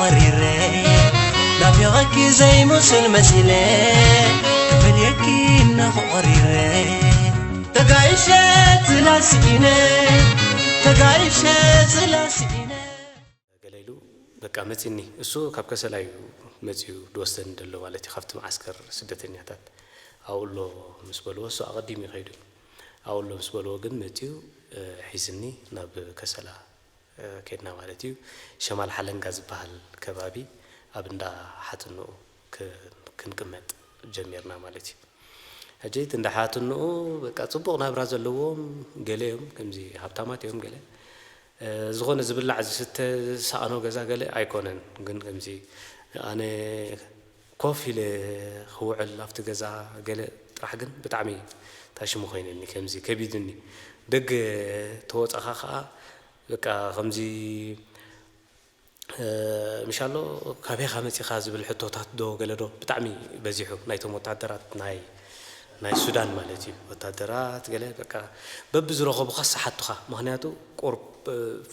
ቐሪረ ናፊቐኪ ዘይምሱል መሲለ ክፈልየኪ እነኹ ቐሪረ ተጋይሸ ዝላ ስኢነ ተጋይሸ ዝላ ስኢነ ገለ ኢሉ በቃ መጺኒ እሱ ካብ ከሰላ እዩ መጺኡ ድወስደኒ ደሎ ማለት እዩ ካብቲ መዓስከር ስደተኛታት ኣብኡ ኣሎ ምስ በልዎ እሱ ኣቐዲሙ እዩ ከይዱ ኣብኡ ኣሎ ምስ በልዎ ግን መጺኡ ሒዝኒ ናብ ከሰላ ከድና ማለት እዩ ሸማል ሓለንጋ ዝባሃል ከባቢ ኣብ እንዳ ሓትንኡ ክንቅመጥ ጀሚርና ማለት እዩ ሕጂ እቲ እንዳ ሓትንኡ በቃ ጽቡቅ ናብራ ዘለዎም ገለ እዮም ከምዚ ሃብታማት እዮም ገለ ዝኾነ ዝብላዕ ዝስተ ዝሰኣኖ ገዛ ገለ ኣይኮነን ግን ከምዚ ኣነ ኮፍ ኢለ ክውዕል ኣብቲ ገዛ ገለ ጥራሕ ግን ብጣዕሚ ታይ ሽሙ ኮይነኒ ከምዚ ከቢዱኒ ደገ ተወጻኻ ከኣ በቃ ከምዚ ምሻሎ ካበይኻ መጺኻ ዝብል ሕቶታት ዶ ገለ ዶ ብጣዕሚ በዚሑ ናይቶም ወታደራት ናይ ናይ ሱዳን ማለት እዩ ወታደራት ገለ በቃ በብዝረኸቡኻስ ሰሓቱኻ ምኽንያቱ ቁርብ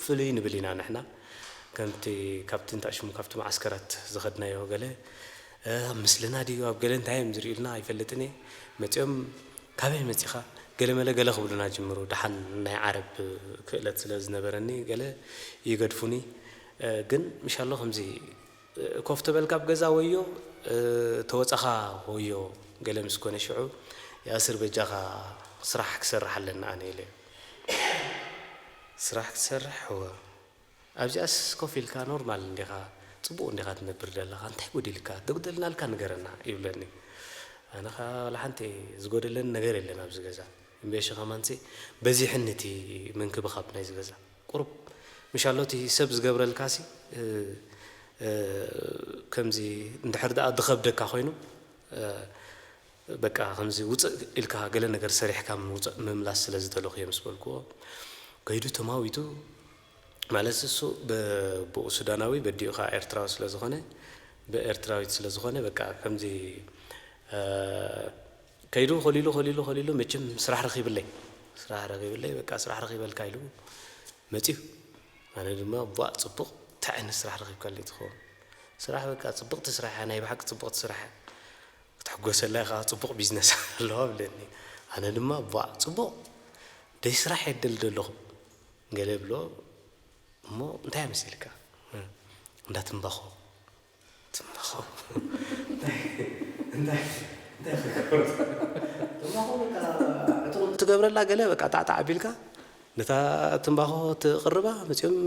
ፍልይ ንብል ኢና ንሕና ከምቲ ካብቲ እንታይ ሽሙ ካብቲ መዓስከራት ዝኸድናዮ ገለ ኣብ ምስልና ድዩ ኣብ ገለ እንታይ እዮም ዝርእዩልና ኣይፈልጥን እየ መጺኦም ካበይ መጺኻ ገለመለ ገለ ክብሉና ጅምሩ ደሓን ናይ ዓረብ ክእለት ስለ ዝነበረኒ ገለ ይገድፉኒ ግን ምሻሎ ከምዚ ኮፍ ተበል ካብ ገዛ ወዮ ተወጻኻ ወዮ ገለ ምስ ኮነ ሽዑ ያስር በጃኻ ስራሕ ክሰርሕ ኣለኒ ኣነ ኢለ ስራሕ ክትሰርሕ እወ ኣብዚኣስ ኮፍ ኢልካ ኖርማል እንዲኻ ጽቡቅ እንዲኻ ትነብር ደለኻ እንታይ ጎዲልካ ተጉደልናልካ ንገረና ይብለኒ ኣነ ከኣ ዋላ ሓንቲ ዝጎደለኒ ነገር የለን ኣብዚ ገዛ እምበይሺ ከማንሲ በዚሕኒ እቲ ምንክብኻብ ናይዚ ገዛ ቁሩብ ምሻሎ እቲ ሰብ ዝገብረልካሲ ከምዚ እንድሕር ደኣ ዝኸብደካ ኮይኑ በቃ ከምዚ ውጽእ ኢልካ ገለ ነገር ሰሪሕካ ምምላስ ስለ ዝደለኹ እየ ምስ በልክዎ ከይዱ ተማዊቱ ማለት እሱ ብኡ ሱዳናዊ በዲኡ ከዓ ኤርትራዊ ስለ ዝኾነ ብኤርትራዊት ስለ ዝኾነ በቃ ከምዚ ከይዱ ከሊሉ ከሊሉ ከሊሉ መቸም ስራሕ ረኺብለይ ስራሕ ረኺብለይ በቃ ስራሕ ረኺበልካ ኢሉ መፅዩ ኣነ ድማ ቧእ ፅቡቕ እንታይ ዓይነት ስራሕ ረኺብካለይ ትኸውን ስራሕ በቃ ፅብቕቲ ስራሕ ናይ ብሓቂ ፅብቕቲ ስራሕ ክትሕጎሰላ ኢኻ ፅቡቕ ቢዝነስ ኣለዋ ብለኒ ኣነ ድማ ቧእ ፅቡቕ ደይ ስራሕ የደል ደለኹ ገለ ብሎ እሞ እንታይ መሲልካ እንዳትንባኾ ትገብረላ ገለ በቃ ጣዕጣዕ ኣቢልካ ነታ ትምባኾ ትቕርባ መጺኦም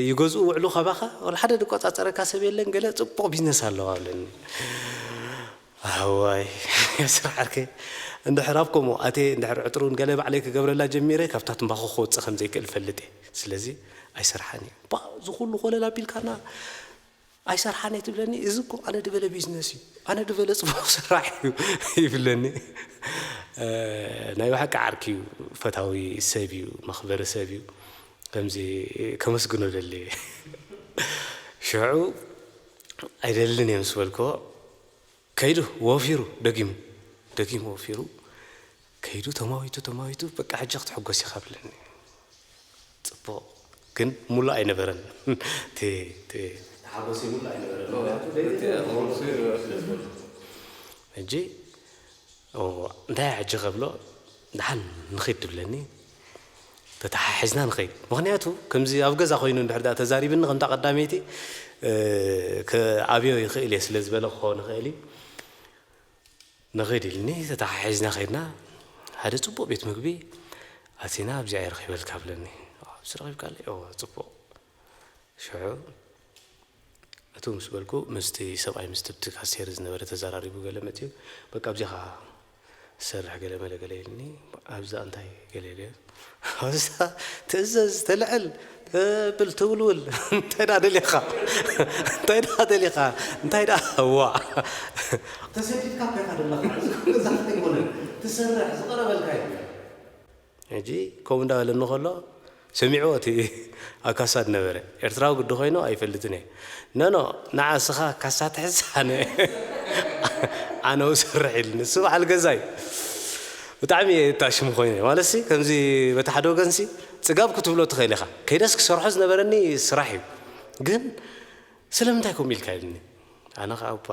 ይገዝኡ ውዕሉ ካባኻ ወላ ሓደ ዝቆጻጸረካ ሰብ የለን ገለ ጽቡቕ ቢዝነስ ኣለዋ ብለኒ ኣዋይ ስራሕ ዓርከ እንድሕር ኣብ ከምኡ ኣትየ እንድሕር ዕጥሩን ገለ ባዕለይ ክገብረላ ጀሚረ ካብታ ትምባኾ ክወጽእ ከም ዘይክእል እፈልጥ እየ ስለዚ ኣይስርሓን እዩ ባእ እዚ ኩሉ ኮለል ኣቢልካና ኣይሰርሓን እየ ትብለኒ እዚ እኮ ኣነ ድበለ ቢዝነስ እዩ ኣነ ድበለ ፅቡቅ ስራሕ እዩ ይብለኒ ናይ ብሓቂ ዓርኪ እዩ ፈታዊ ሰብ እዩ መኽበሪ ሰብ እዩ ከምዚ ከመስግኖ ደሊ እየ ሽዑ ኣይደልን እየ ምስ በልክዎ ከይዱ ወፊሩ ደጊሙ ደጊሙ ወፊሩ ከይዱ ተማዊቱ ተማዊቱ በቃ ሕጂ ክትሕጎስ ኢኻ ብለኒ ጽቡቕ ግን ሙሉእ ኣይነበረን እቲ ሓጎሰይ ሙሉእ ኣይነበረን ምክንያቱ ሕጂ እንታይ እየ ሕጂ ከብሎ ድሓን ንኺድ ትብለኒ ተታሓሒዝና ንኸይድ ምኽንያቱ ከምዚ ኣብ ገዛ ኮይኑ እንድሕር ድኣ ተዛሪብኒ ከምታ ቀዳመይቲ ክኣብዮ ይኽእል እየ ስለ ዝበለ ክኸውን ይኽእል እዩ ንኺድ ኢልኒ ተታሓሒዝና ከይድና ሓደ ጽቡቕ ቤት ምግቢ ኣቲና ኣብዚኣ ይረኺበልካ ብለኒ ዝረኺብካለይ ጽቡቕ ሽዑ እቱ ምስ በልኩ ምስቲ ሰብኣይ ምስ ትብቲ ካሴር ዝነበረ ተዘራሪቡ ገለ መፅኡ በቃ ኣብዚኻ ዝሰርሕ ገለ መለ ገለ ኢልኒ ኣብዛ እንታይ ገለ ኢለ ኣብዛ ትእዘዝ ተልዕል ተብል ትውልውል እንታይ ዳ ደሊኻ እንታይ ዳ ደሊኻ እንታይ ዳ ዋ ተሰዲድካ ጌኻ ዘለኻ እዚ ኩሉ እዛ ክትግብነ ትሰርሕ ዝቐረበልካ እዩ ሕጂ ከምኡ እንዳ በለኒ ከሎ ሰሚዕዎ እቲ ኣብ ካሳ ዝነበረ። ኤርትራዊ ግዲ ኮይኑ ኣይፈልጥን እየ። ኖኖ ንዓ እስኻ ካሳ ትሕዝ ኣነ ኣነ እሰርሕ ኢሉኒ ንሱ በዓል ገዛይ። ብጣዕሚ እየ እታሽሙ ኮይነ ማለትሲ ከምዚ በቲ ሓደ ወገንሲ ጽጋብ ክትብሎ ትኽእል ኢኻ ከይደስ ክሰርሖ ዝነበረኒ ስራሕ እዩ ግን ስለምንታይ ከምኡ ኢልካ ኢሉኒ ኣነ ከኣ እባ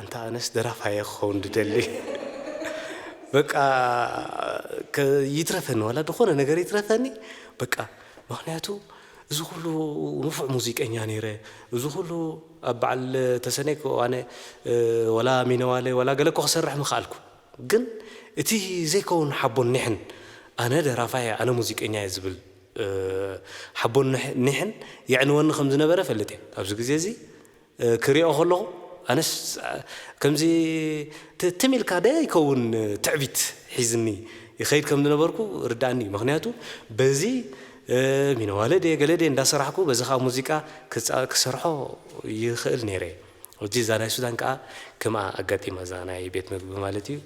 ኣንታ ኣነስ ደራፋይ እየ ክኸውን ድደሊ በቃ ይትረፈኒ ዋላ ድኾነ ነገር ይትረፈኒ በቃ ምኽንያቱ እዚ ኩሉ ንፉዕ ሙዚቀኛ ነይረ እዚ ኩሉ ኣብ በዓል ተሰነይ እኮ ኣነ ዋላ ሚነዋለ ዋላ ገለ እኮ ክሰርሕ ምኸኣልኩ ግን እቲ ዘይከውን ሓቦን ኒሕን ኣነ ደራፋይ እየ ኣነ ሙዚቀኛ እየ ዝብል ሓቦን ኒሕን የዕንወኒ ከም ዝነበረ እፈልጥ እየ ኣብዚ ግዜ እዚ ክሪኦ ከለኹ ኣነስ ከምዚ ትም ኢልካ ደ ይከውን ትዕቢት ሒዝኒ ይኸይድ ከም ዝነበርኩ ርድኣኒ እዩ ምክንያቱ በዚ ሚነዋለ ድየ ገለ ድየ እንዳሰራሕኩ በዚ ከዓ ሙዚቃ ክሰርሖ ይኽእል ነይረ ሕጂ እዛ ናይ ሱዳን ከዓ ከምኣ ኣጋጢማ እዛ ናይ ቤት መግቢ ማለት እዩ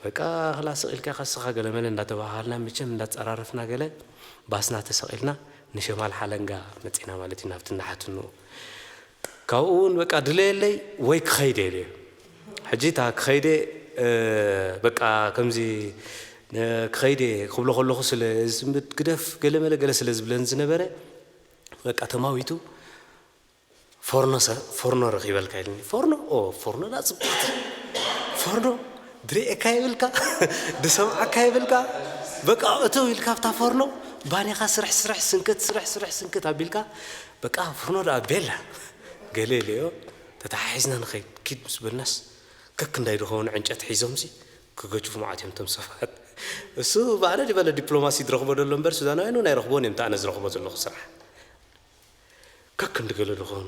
በቃ ክላ ስቕ ኢልካ ከስኻ ገለመለ እንዳተባሃሃልና መቸም እንዳተፀራረፍና ገለ ባስና ተሰቒልና ንሸማል ሓለንጋ መፂና ማለት እዩ ናብቲ እንዳሓትንኡ ካብኡ ውን በቃ ድለየለይ ወይ ክኸይድ እየ ኢለዮ ሕጂ እታ ክኸይድ እየ በቃ ከምዚ ክኸይድ እየ ክብሎ ከለኹ ስለ ዝጽምብድ ግደፍ ገለ መለ ገለ ስለ ዝብለኒ ዝነበረ በቃ ተማዊቱ ፎርኖ ፎርኖ ረኺበልካ ኢልኒ ፎርኖ ኦ ፎርኖ ዳ ጽብቕቲ ፎርኖ ድርእየካ የብልካ ድሰምዓካ የብልካ በቃ እተው ኢልካ ኣብታ ፎርኖ ባኒኻ ስርሕ ስርሕ ስንከት ስርሕ ስርሕ ስንከት ኣቢልካ በቃ ፍርኖ ደኣ ቤላ ገለ ኢለዮ ተተሓሒዝና ንኸይድ ኪድ ምስ በልናስ ከክ እንዳይ ድኸውን ዕንጨቲ ሒዞምሲ ክገጩ መዓት እዮም እቶም ሰባት እሱ ባዕለ ድበለ ዲፕሎማሲ ድረኽቦ ደሎ እምበር ሱዳናውያን እውን ኣይረኽብዎን እዮም እቲ ኣነ ዝረኽቦ ዘለኹ ስራሕ ከክ እንድገለ ድኾን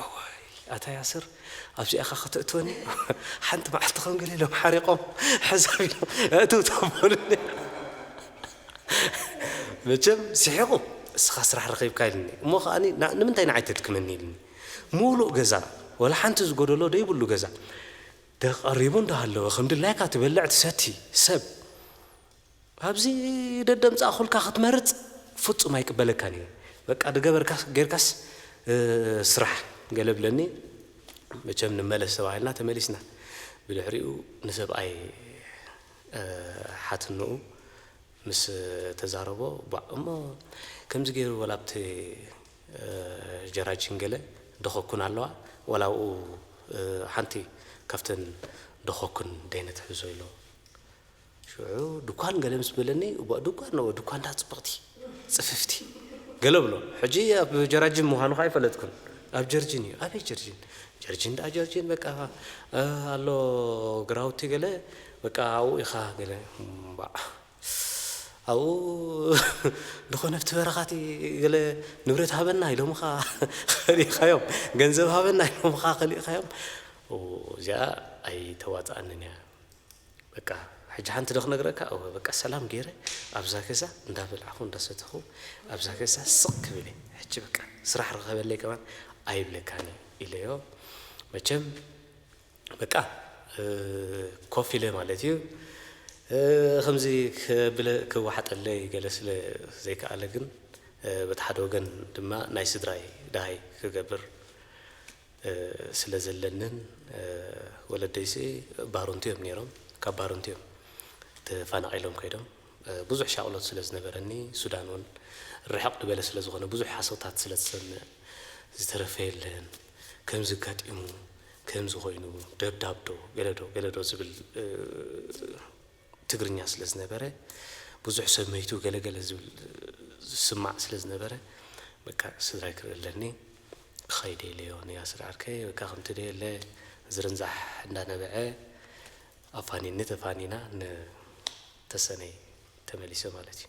እዋይ ኣታ ያስር ኣብዚኣኻ ከተእትወኒ ሓንቲ መዓልቲ ከም ገለ ኢሎም ሓሪቆም ሕዛብ ኢሎም ኣእትውቶም በሉኒ መቸም ስሒቁ እስኻ ስራሕ ረኺብካ ኢልኒ እሞ ከኣ ንምንታይ ንዓይ ተድክመኒ ኢልኒ ሙሉእ ገዛ ወላ ሓንቲ ዝጎደሎ ደይብሉ ገዛ ደቀሪቡ እንዳሃለወ ከም ድላይካ ትበልዕ ትሰቲ ሰብ ኣብዚ ደደምጻእኩልካ ክትመርጽ ፍጹም ኣይቅበለካን እየ በቃ ድገበርካ ጌርካስ ስራሕ ገለ ብለኒ መቸም ንመለስ ተባሂልና ተመሊስና ብድሕሪኡ ንሰብኣይ ሓትንኡ ምስ ተዛረቦ ቧእ እሞ ከምዚ ጌሩ ወላ ኣብቲ ጀራጂን ገለ ዶኸኩን ኣለዋ ወላ ኣብኡ ሓንቲ ካብተን ዶኸኩን ደይ ነትሕዞ ኢሎ ሽዑ ድኳን ገለ ምስ በለኒ፣ እዋእ ድኳን እወ ድኳን ድኣ ጽብቕቲ ጽፍፍቲ ገለ እብሎ። ሕጂ ኣብ ጀራጂን ምዃኑ ከኣ ኣይፈለጥኩን። ኣብ ጀርጂን እዩ። ኣበይ ጀርጂን? ጀርጂን ድኣ ጀርጂን በቃ ኣሎ ግራውቲ ገለ በቃ ኣብኡ ኢኻ ገለ እምባእ ኣብኡ ድኾነ ኣብቲ በረኻቲ ገለ ንብረት ሃበና ኢሎምኻ ከሊእኻዮም ገንዘብ ሃበና ኢሎምኻ ከሊእኻዮም እዚኣ ኣይተዋጽኣንን እያ። በቃ ሕጂ ሓንቲ ዶ ክነግረካ እወ በቃ ሰላም ጌረ ኣብዛ ገዛ እንዳ በላዕኩ እንዳ ሰተኹ ኣብዛ ገዛ ስቅ ክብል እየ ሕጂ በቃ ስራሕ ርኸበለይ ከማን ኣይብለካን እየ ኢለዮ መቸም በቃ ኮፍ ኢለ ማለት እዩ ከምዚ ክብለ ክወሓጠለይ ገለ ስለ ዘይከኣለ ግን በቲ ሓደ ወገን ድማ ናይ ስድራይ ደሃይ ክገብር ስለ ዘለንን ወለደይሲ ባሩንቱ እዮም ነይሮም ካብ ባሩንቱ እዮም ተፋናቂሎም ከይዶም ብዙሕ ሻቅሎት ስለ ዝነበረኒ ሱዳን እውን ርሕቅ ድበለ ስለ ዝኮነ ብዙሕ ሓሶታት ስለ ትሰምዕ ዝተረፈ የለን ከምዚ ኣጋጢሙ ከምዚ ኮይኑ ደብዳብ ዶ ገለ ዶ ገለ ዶ ዝብል ትግርኛ ስለ ዝነበረ ብዙሕ ሰብ መይቱ ገለ ገለ ዝብል ዝስማዕ ስለ ዝነበረ በቃ ስድራይ ክርኢ ኣለኒ ክኸይደ ኢለዮ ንያስር ዓርከይ በቃ ከምቲ ደየለ ዝርንዛሕ እንዳነበዐ ኣፋኒኒ ተፋኒና ንተሰነይ ተመሊሰ ማለት እዩ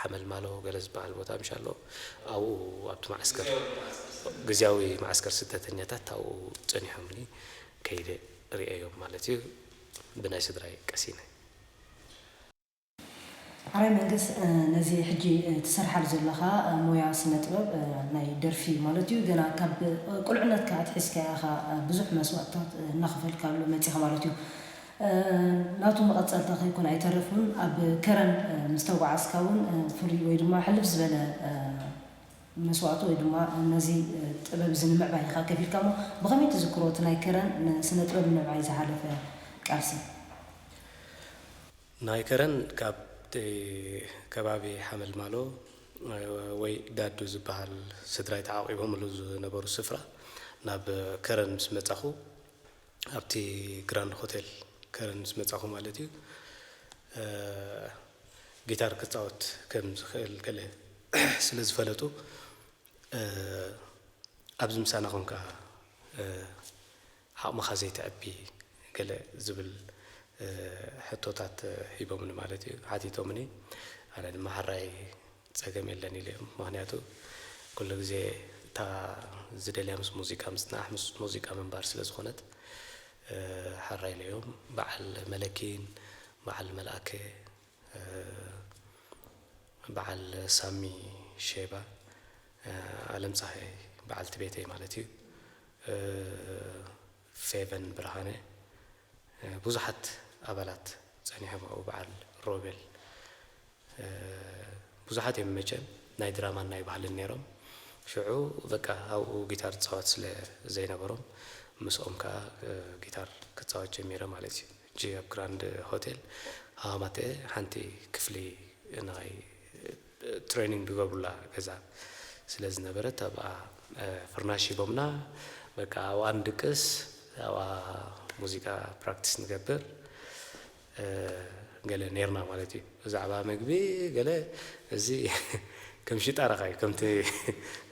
ሓመልማሎ ገለ ዝበሃል ቦታ ምሽ ኣሎ ኣብኡ ኣብቲ መዓስከር ግዝያዊ መዓስከር ስደተኛታት ኣብኡ ጸኒሖምኒ ከይደ ርእየዮም ማለት እዩ ብናይ ስድራይ ቀሲነ። ሐራይ መንግስ ነዚ ሕጂ ትሰርሓሉ ዘለኻ ሞያ ስነ ጥበብ ናይ ደርፊ ማለት እዩ ገና ካብ ቁልዕነትካ ኣትሒዝካ ኢኻ ብዙሕ መስዋእትታት እናኸፈልካሉ መጺኻ ማለት እዩ ናቱ መቐጸልታ ከይኮነ ኣይተረፉን። ኣብ ከረን ምስ ተጓዓዝካ እውን ፍሉይ ወይ ድማ ሕልፍ ዝበለ መስዋእቲ ወይ ድማ ነዚ ጥበብ እዚ ንምዕባይ ኢኻ ከፊልካ እሞ ብኸመይ ትዝክሮ እቲ ናይ ከረን ንስነ ጥበብ ንምዕባይ ዝሓለፈ ቃልሲ? ናይ ከረን ካብቲ ከባቢ ሓመልማሎ ወይ ዳዱ ዝበሃል ስድራይ ተዓቚቦምሉ ዝነበሩ ስፍራ ናብ ከረን ምስ መጻኹ ኣብቲ ግራንድ ሆቴል ከረን ምስ መጻኹ ማለት እዩ ጊታር ክጻወት ከም ዝኽእል ገለ ስለ ዝፈለጡ ኣብዚ ምሳና ኮንካ ዓቕምኻ ዘይተዕቢ ገለ ዝብል ሕቶታት ሂቦምኒ ማለት እዩ ሓቲቶምኒ ኣነ ድማ ሓራይ ጸገም የለን ኢሉ እም ምክንያቱ ኩሉ ግዜ እታ ዝደልያ ምስ ሙዚቃ ምጽናሕ ምስ ሙዚቃ ምንባር ስለ ዝኮነት ሐራይ ኢሉ እም በዓል መለኪን በዓል መልኣከ በዓል ሳሚ ሼባ ኣለም ጸሃይ በዓልቲ ቤተይ ማለት እዩ። ፌቨን ብርሃነ ብዙሓት ኣባላት ጸኒሖም ኣብኡ በዓል ሮቤል ብዙሓት እዮም መቸም ናይ ድራማን ናይ ባህልን ነይሮም ሽዑ በቃ ኣብኡ ጊታር ዝጻወት ስለ ዘይነበሮም ምስኦም ከኣ ጊታር ክጻወት ጀሚረ ማለት እዩ እጂ ኣብ ግራንድ ሆቴል ሃዋማተ ሓንቲ ክፍሊ ናይ ትሬኒንግ ዝገብሩላ ገዛ ስለ ዝነበረት ኣብኣ ፍርናሽ ሂቦምና በቃ ኣብኣ ንድቅስ ኣብኣ ሙዚቃ ፕራክቲስ ንገብር ገለ ነርና ማለት እዩ ብዛዕባ ምግቢ ገለ እዚ ከም ሽጣራኻ እዩ ከምቲ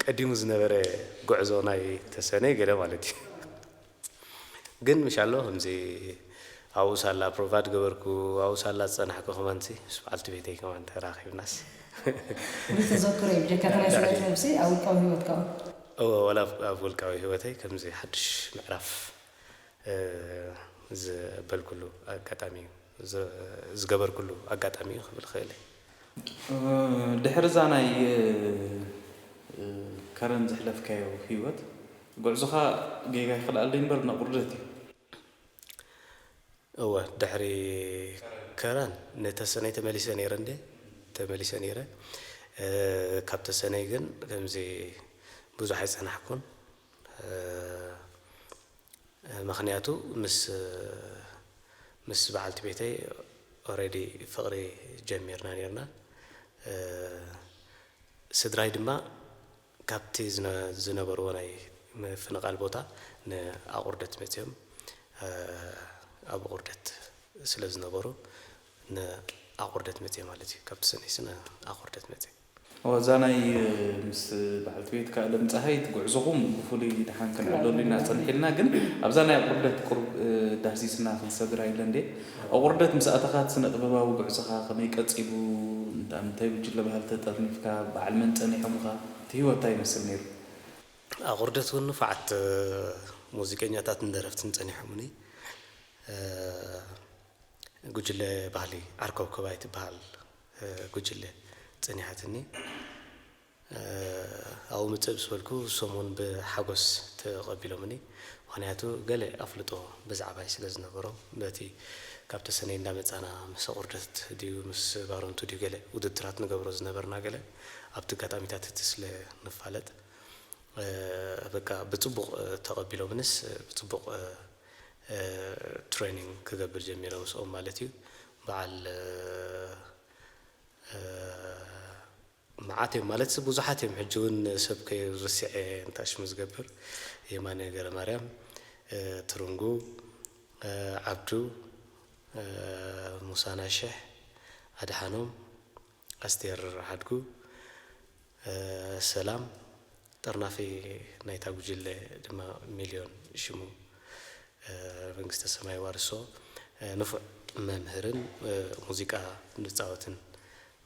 ቀዲሙ ዝነበረ ጉዕዞ ናይ ተሰነይ ገለ ማለት እዩ ግን ምሻሎ ከምዚ ኣብኡ ሳላ ፕሮቫድ ገበርኩ ኣብኡ ሳላ ዝጸናሕኩ ከማንሲ ምስ በዓልቲ ቤተይ ከማን ተራኺብናስ። ፍሉይ ተዘክሮ እዩ ብጀካ እቲ ናይ ስነ ጥበብሲ ኣብ ውልቃዊ ሂወትካ ውን። እወ ዋላ ኣብ ውልቃዊ ሂወተይ ከምዚ ሓድሽ ምዕራፍ ዘበልኩሉ ኣጋጣሚ እዩ። ዝገበርኩሉ ኣጋጣሚ እዩ ክብል እኽእል እየ። ድሕሪ እዛ ናይ ከረን ዘሕለፍካዮ ህይወት ጉዕዞኻ ጌጋ ይኽልኣለይ እምበር ነቑርደት እዩ። እወ ድሕሪ ከረን ንተሰነይ ተመሊሰ ነይረ እንድየ ተመሊሰ ነይረ። ካብ ተሰነይ ግን ከምዚ ብዙሕ ኣይጸናሕኩን። ምኽንያቱ ምስ ምስ በዓልቲ ቤተይ ኦረዲ ፍቕሪ ጀሚርና ኔርና ስድራይ ድማ ካብቲ ዝነበርዎ ናይ ምፍንቓል ቦታ ንኣቑርደት መጺኦም ኣብ ቑርደት ስለ ዝነበሩ ንኣቑርደት መጺኤ ማለት እዩ ካብቲ ሰኔ ስነ ኣቑርደት መጺኤ ዋዛ ናይ ምስ በዓልቲ ቤትካ ኣለምጸሃይት ጉዕዞኹም ብፍሉይ ደሓን ክንዕለሉ ኢና ጸኒሒልና ግን ኣብዛ ናይ ኣቁርደት ቁሩብ ዳህሲስና ክንሰግር ኣይለን ድየ ኣቁርደት ምስ ኣተኻ እቲ ስነጥበባዊ ጉዕዞኻ ከመይ ቀጺሉ እንታይ ጉጅለ ባህሊ ተጠርኒፍካ በዓል መን ጸኒሖምኻ እቲ ሂወት ታይ ይመስል ኔሩ። ኣቁርደት ውን ንፉዓት ሙዚቀኛታትን ደረፍትን ጸኒሖሙኒ ጉጅለ ባህሊ ዓርከብከባይ ትበሃል ጉጅለ ጸኒሓትኒ ኣብኡ ምጽእ ምስ በልኩ ሰሙን ብሓጎስ ተቐቢሎምኒ ምኽንያቱ ገለ ኣፍልጦ ብዛዕባይ ስለ ዝነበሮም በቲ ካብ ተሰነይ እንዳ መጻና ምስ ኣቑርደት ድዩ ምስ ባረንቱ ድዩ ገለ ውድድራት ንገብሮ ዝነበርና ገለ ኣብቲ ኣጋጣሚታት እቲ ስለ ንፋለጥ በቃ ብጽቡቕ ተቐቢሎምንስ ብጽቡቕ ትሬኒንግ ክገብር ጀሚረ ምስኦም ማለት እዩ በዓል መዓት እዮም ማለት ብዙሓት እዮም ሕጂ እውን ሰብ ከይርስዐ እንታሽሙ ዝገብር የማነ ገረ ማርያም ትርንጉ ዓብዱ ሙሳና ሽሕ ኣድሓኖም ኣስቴር ሓድጉ ሰላም፣ ጠርናፊ ናይታ ጉጅለ ድማ ሚልዮን ሽሙ፣ መንግስተ ሰማይ የዋርሶ፣ ንፉዕ መምህርን ሙዚቃ ዝጻወትን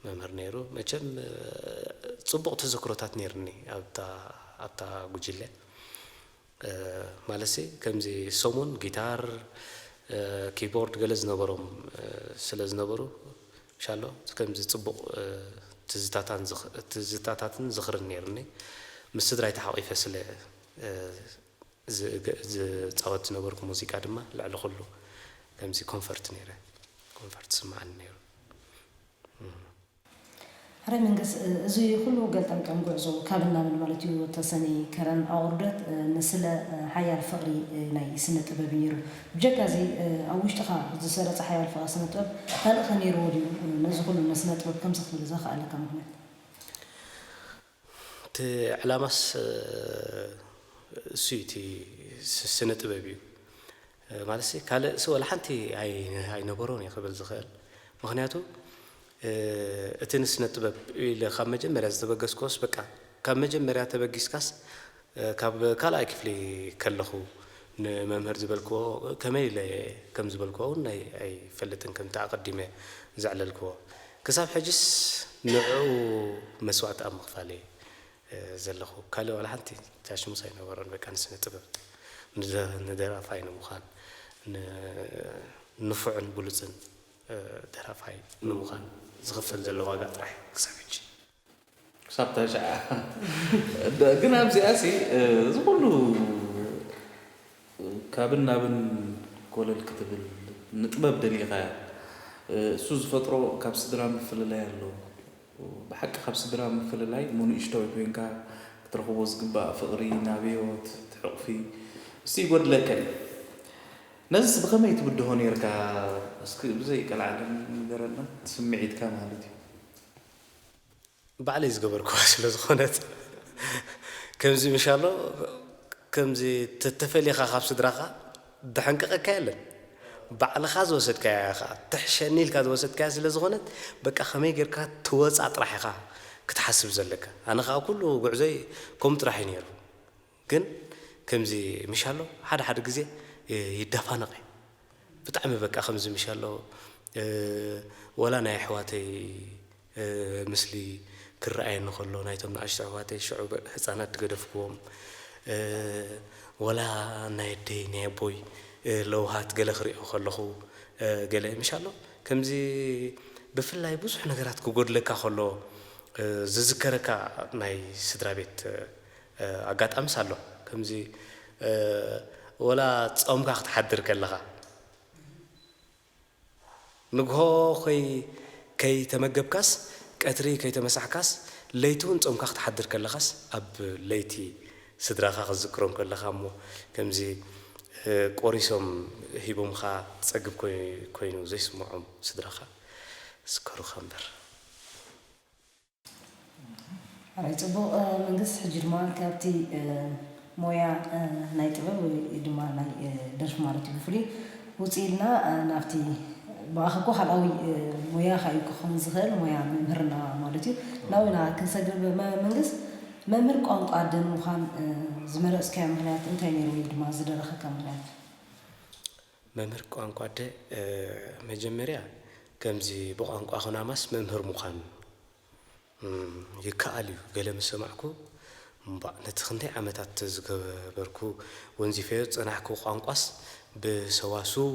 መምህር ነይሩ። መቸም ጽቡቕ ተዘክሮታት ነይርኒ ኣብታ ኣብታ ጉጅለ። ማለትሲ ከምዚ ሰሙን ጊታር ኪቦርድ ገለ ዝነበሮም ስለ ዝነበሩ ሻሎ ከምዚ ጽቡቕ ትዝታታትን ዝኽርን ኔሩኒ ምስ ስድራይ ተሓቒፈ ስለ ዝጻወት ዝነበርኩ ሙዚቃ ድማ ልዕሊ ኩሉ ከምዚ ኮንፈርት ኔረ ኮንፈርት ዝስምዓኒ ኔሩ። ሐራይ መንግስ እዚ ኹሉ ገልጠምጠም ጉዕዞ ካብን ናብን ማለት እዩ ተሰኒ ከረን ኣውርደት ንስለ ሐያል ፍቅሪ ናይ ስነ ጥበብ እዩ ነይሩ ብጀካ እዚ ኣብ ውሽጥኻ ዝሰረጸ ሐያል ፍቅሪ ስነ ጥበብ ካልእ ከ ነይርዎ ድዩ ነዚ ኹሉ ንስነ ጥበብ ከምዚ ክትብል ዘኸኣለካ ምኽንያት? እቲ ዕላማስ እሱ እዩ እቲ ስነ ጥበብ እዩ ማለት ካልእሲ ወላ ሓንቲ ኣይነበሮን እየ ክብል ዝኽእል ምክንያቱ እቲ ንስነ ጥበብ ኢለ ካብ መጀመርያ ዝተበገስክዎስ በቃ ካብ መጀመርያ ተበጊስካስ ካብ ካልኣይ ክፍሊ ከለኹ ንመምህር ዝበልክዎ ከመይ ኢለ ከም ዝበልክዎ ውን ኣይፈልጥን ከምቲ ኣቐዲመ ዘዕለልክዎ ክሳብ ሕጅስ ንዕኡ መስዋእቲ ኣብ ምኽፋል እየ ዘለኹ ካልእ ዋላ ሓንቲ ቻሽሙስ ኣይነበሮን በቃ ንስነ ጥበብ ንደራፋይ ንምዃን ንፉዕን ብሉጽን ደራፋይ ንምዃን ዝኽፈል ዘሎ ዋጋ ጥራሕ ክሳብ ሕጂ ክሳብ ተሸዓ ግን ኣብዚኣ ሲ እዚ ኩሉ ካብን ናብን ኮለል ክትብል ንጥበብ ደሊኻያ እሱ ዝፈጥሮ ካብ ስድራ ምፍልላይ ኣሎ ብሓቂ ካብ ስድራ ምፍልላይ እሞ ንእሽቶይ ኮይንካ ክትረኽቦ ዝግባእ ፍቕሪ ናብዮት ትሕቑፊ እሱ ይጎድለካ እዩ ነዚስ ብኸመይ ትብድሆ ነርካ እስኪ ብዘይ ቀልዓለም ንገረና ስምዒትካ ማለት እዩ ባዕለይ ዝገበርክዋ ስለ ዝኾነት ከምዚ ምሻሎ ከምዚ ተተፈሊኻ ካብ ስድራኻ ደሐንቅቀካ የለን ባዕልኻ ዝወሰድካያ ኢኻ ትሕሸኒ ኢልካ ዝወሰድካያ ስለ ዝኾነት በቃ ከመይ ጌርካ ትወጻ ጥራሕ ኢኻ ክትሓስብ ዘለካ ኣነ ከኣ ኩሉ ጉዕዞይ ከምኡ ጥራሕ እዩ ኔሩ ግን ከምዚ ምሻሎ ሓደ ሓደ ግዜ ይዳፋነቅ እየ ብጣዕሚ በቃ ከምዚ ምሻሎ ወላ ናይ ኣሕዋተይ ምስሊ ክረኣየኒ ከሎ ናይቶም ንኣሽቱ ኣሕዋተይ ሽዑ ህጻናት ድገደፍክዎም ወላ ናይ ኣደይ ናይ ኣቦይ ለውሃት ገለ ክሪኦ ከለኩ ገለ ምሻሎ ከምዚ ብፍላይ ብዙሕ ነገራት ክጎድለካ ከሎ ዝዝከረካ ናይ ስድራቤት ኣጋጣሚስ ኣሎ ከምዚ ወላ ጾምካ ክትሓድር ከለኻ ንግሆ ኮይ ከይተመገብካስ ቀትሪ ከይተመሳሕካስ ለይቲ ውን ጾምካ ክትሓድር ከለኻስ ኣብ ለይቲ ስድራኻ ክትዝክሮም ከለኻ እሞ ከምዚ ቆሪሶም ሂቦምኻ ትጸግብ ኮይኑ ዘይስምዖም ስድራኻ ዝከሩኻ እምበር። ኣይ ጽቡቕ መንግስ ሕጂ ድማ ካብቲ ሞያ ናይ ጥበብ ወይ ድማ ናይ ደርፊ ማለት እዩ ብፍሉይ ውጽእ ኢልና ናብቲ ብኣኻ እኮ ካልኣዊ ሞያኻ እዩ ክኸውን ዝኽእል ሞያ መምህርና ማለት እዩ ናብኡ ኢና ክንሰግር መንግስ መምህር ቋንቋ ደን ምዃን ዝመረጽካዮ ምኽንያት እንታይ ነይሩ ወይ ድማ ዝደረኸካ ምኽንያት? መምህር ቋንቋ ኣደ መጀመርያ ከምዚ ብቋንቋ ኩናማስ መምህር ምዃን ይከኣል እዩ ገለ ምስ ሰማዕኩ እምቧእ ነቲ ክንደይ ዓመታት ዝገበርኩ ወንዚፈዮ ዝጸናሕኩ ቋንቋስ ብሰዋስው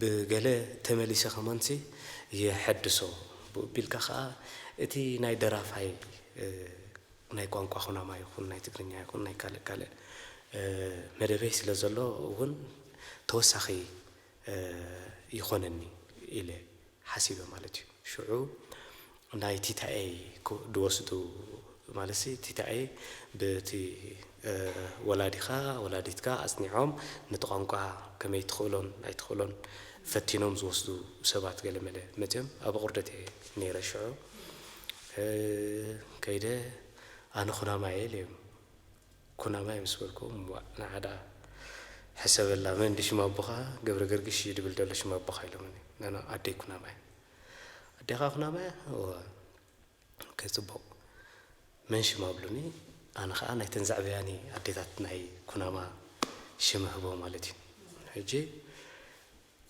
ብገለ ተመሊሰ ከማንሲ የሐድሶ ብኡቢልካ ከኣ እቲ ናይ ደራፋይ ናይ ቋንቋ ኩናማ ይኹን ናይ ትግርኛ ይኹን ናይ ካልእ ካልእ መደበይ ስለ ዘሎ እውን ተወሳኺ ይኾነኒ ኢለ ሓሲበ ማለት እዩ። ሽዑ ናይ ቲታኤይ ድወስዱ ማለትሲ ቲታኤይ ብቲ ወላዲኻ ወላዲትካ ኣፅኒዖም ነቲ ቋንቋ ከመይ ትኽእሎን ኣይትኽእሎን ፈቲኖም ዝወስዱ ሰባት ገለመለ መፅዮም ኣብ ኣቑርደት እየ ነይረ ሽዑ ከይደ ኣነ ኩናማየ ኢለዮም። ኩናማይ ምስ በልኩዎም እዋእ ንዓ ደኣ ሕሰበላ መን ድዩ ሽም ኣቦኻ ገብረገርግሽ እዩ ድብል ደሎ ሽም ኣቦኻ ኢሎምኒ። ኖኖ ኣደይ ኩናማያ። ኣዴኻ ኩናማያ? እወ። ኦኬ ጽቡቕ መን ሽም ኣብሉኒ ኣነ ኸኣ ናይተን ዘዕበያኒ ኣዴታት ናይ ኩናማ ሽም እህቦ ማለት እዩ። ሕጂ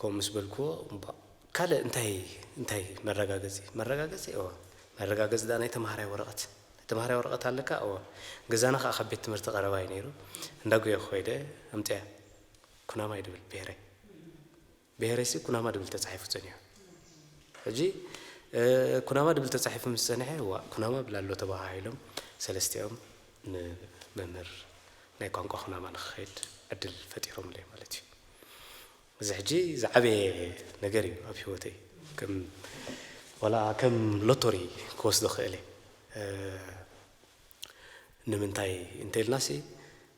ከምኡ ምስ በልክዎ፣ እምቧእ! ካልእ እንታይ እንታይ መረጋገጺ? መረጋገጺ? እወ። መረጋገጺ ደኣ ናይ ተመሃራይ ወረቐት። ናይ ተመሃራይ ወረቐት ኣለካ? እወ። ገዛና ከኣ ካብ ቤት ትምህርቲ ቀረባ እዩ ነይሩ። እንዳ ጒየኹ ከይደ ኣምጺኣ። ኩናማ እዩ ድብል ብሄረይ። ብሄረይሲ ኩናማ ድብል ተጻሒፉ ጸኒሑ። ሕጂ ኩናማ ድብል ተጻሒፉ ምስ ጸንሐ፣ ዋእ ኩናማ ብል ኣሎ ተበሃሂሎም ሰለስቲኦም ንመምህር ናይ ቋንቋ ኩናማ ንክኸይድ ዕድል ፈጢሮምለይ ማለት እዩ። እዚ ሕጂ ዝዓበየ ነገር እዩ ኣብ ሂወተይ ከም ዋላ ከም ሎቶሪ ክወስዶ ክእል እየ ንምንታይ እንተልናሲ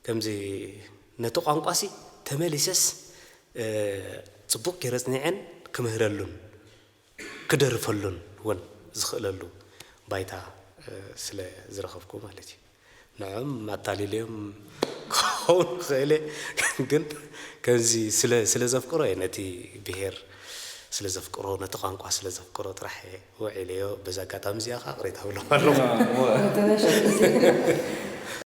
ከምዚ ነቲ ቋንቋሲ ተመሊሰስ ጽቡቅ ጌረ ጽኒዐን ክምህረሉን ክደርፈሉን ውን ዝኽእለሉ ባይታ ስለ ዝረኸብኩ ማለት እዩ። ንዕኦም ኣታሊለዮም ክኸውን ይኽእል እየ ግን ከምዚ ስለ ስለ ዘፍቅሮ እየ ነቲ ብሄር ስለ ዘፍቅሮ ነቲ ቋንቋ ስለ ዘፍቅሮ ጥራሕ እየ ውዒለዮ በዚ ኣጋጣሚ እዚኣ ከኣ ይቕሬታ እብሎም ኣለኹ።